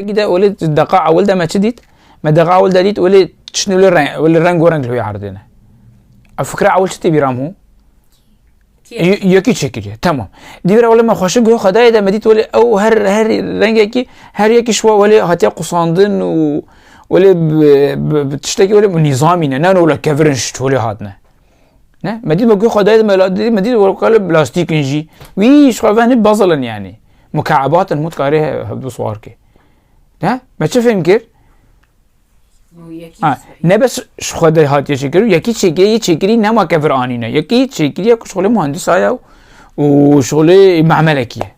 Gide olê deqa ewil de me çi dît? Me deqa ewil de dît olê tiştî li reng li rengo reng li wê erdêne. Ev fikra ewil çi tê bîra min? Yekî çêkiriye temam. Dîvira olê me xweşik guhê xwedayê de me dît olê ew her her rengekî her yekî şiwa olê hatiye qusandin û olê tiştekî olê nîzamî ne ne olê kevirin şiç olê hatine. Ne? Me dît wekî xwedayê di me la dît me dît wekî plastîkin jî wî ji xwe venê bazilin yanî mukeebatin hûn dikarê hevdu swar kê. Ne? Me çi fêm kir? Ne bes ji xwe de hatiye çêkir û yekî çêkirê yê çêkirî nema kevir anîne. Yekî çêkirî ya ku şixulê muhendîsaya û şixulê memelekî ye.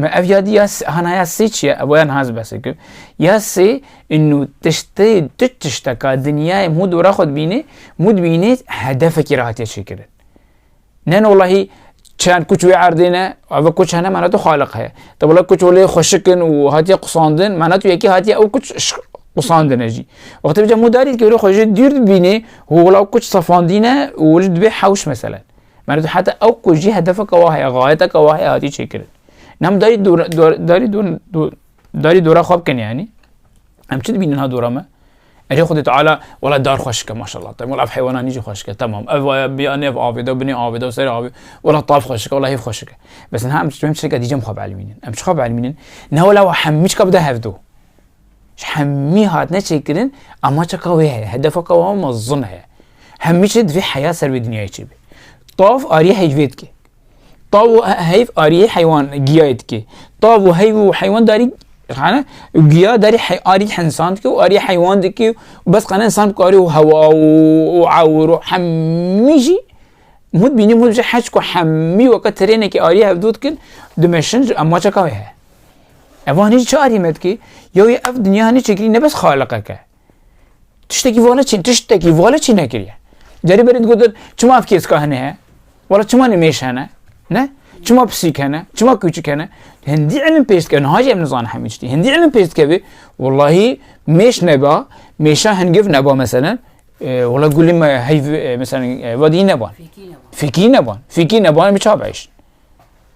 Me ev yadî ya hanaya sê çi ye? Ev yan hez bes kir. Ya sê inû tiştê tu tişteka dinyayê mû dora xwe dibînê, mû dibînê hedefekî re hatiye çêkirin. Ne nolahî çend kuç wê erdê ne, ev kuç hene mena tu xaliq heye. Te wela kuç olê xweşikin û hatiye qusandin, mena tu yekî hatiye ew kuç qusandine jî. Wextê bica mû darî dikê wê xwe jê dîr dibînê û wela kuç safandîne û weli dibê hewş meselen. Merdo heta ew ku jî hedefeke wa heye, gayeteke wa heye hatiye çêkirin. Nam darî dora darî darî dora xwe bikin yanî. Em çi dibînin ha dora me? Ecê Xwedê Teala wela dar xweş ke maşallah te wela heywanan nîjî xweş ke tamam ev vaya biya nev avê de binê avê de serê avê wela taf xweş ke wela hêv xweş ke bes niha em çi em çi ke dîcem xwe bielmînin em çi xwe bielmînin ne wela wa hemî çi ke bide hevdo Ji hemî hatine çêkirin amaca ka wê heye, hedefa ka wan mezin heye. Hemî çi divê heya ser vê dinyayê çêbê. Tav ariyê heyvê dike. Tav û heyv ariyê heywan giyayê dike. Tav û heyv û heywan darî xane giya darî hey arî hensan dike û ariyê heywan dike û bes xane insan karî û hewa û ewir û hemî jî mut bînî mut ji heşt ku hemî weke tirênekê ariyê hevdû dikin dimeşin ji amaca ka wê heye. Evan hîç çarî me dikê. Ya wê ev dinya ne çekirî ne bes xaliqeke. Tiştekî vale çîn, tiştekî vale çî nekiriye. Cerî berê digotin çima ev kêska hene he? Wala çima nimêş hene? Ne? Çima pisîk hene? Çima kûçik hene? Hindî ilim pêş dike, niha jî em nizane hemî tiştî. Hindî ilim pêş dike bê, wellahî mêş neba, mêşa hingiv neba meselen, wala gulê me heyv meselen vadî neban. Fîkî neban. Fîkî neban, em çabe hêşin.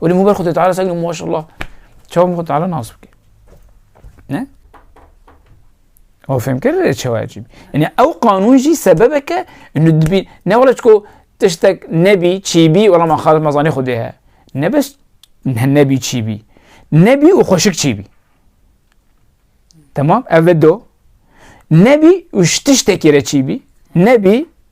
Weli mûber xwe Teala sek maşallah çawa min xwe Teala nas bike. Ne? O fem kir çawa cî. Yani ew qanûn jî sebebeke nudbî ne wala çiko tiştek nebî çîbî wala ma xalim mazanê xwe dê he. Ne bes nebî çîbî. Nebî û xweşik çîbî. Tamam ev do. Nebî û tiştekê re çîbî. Nebî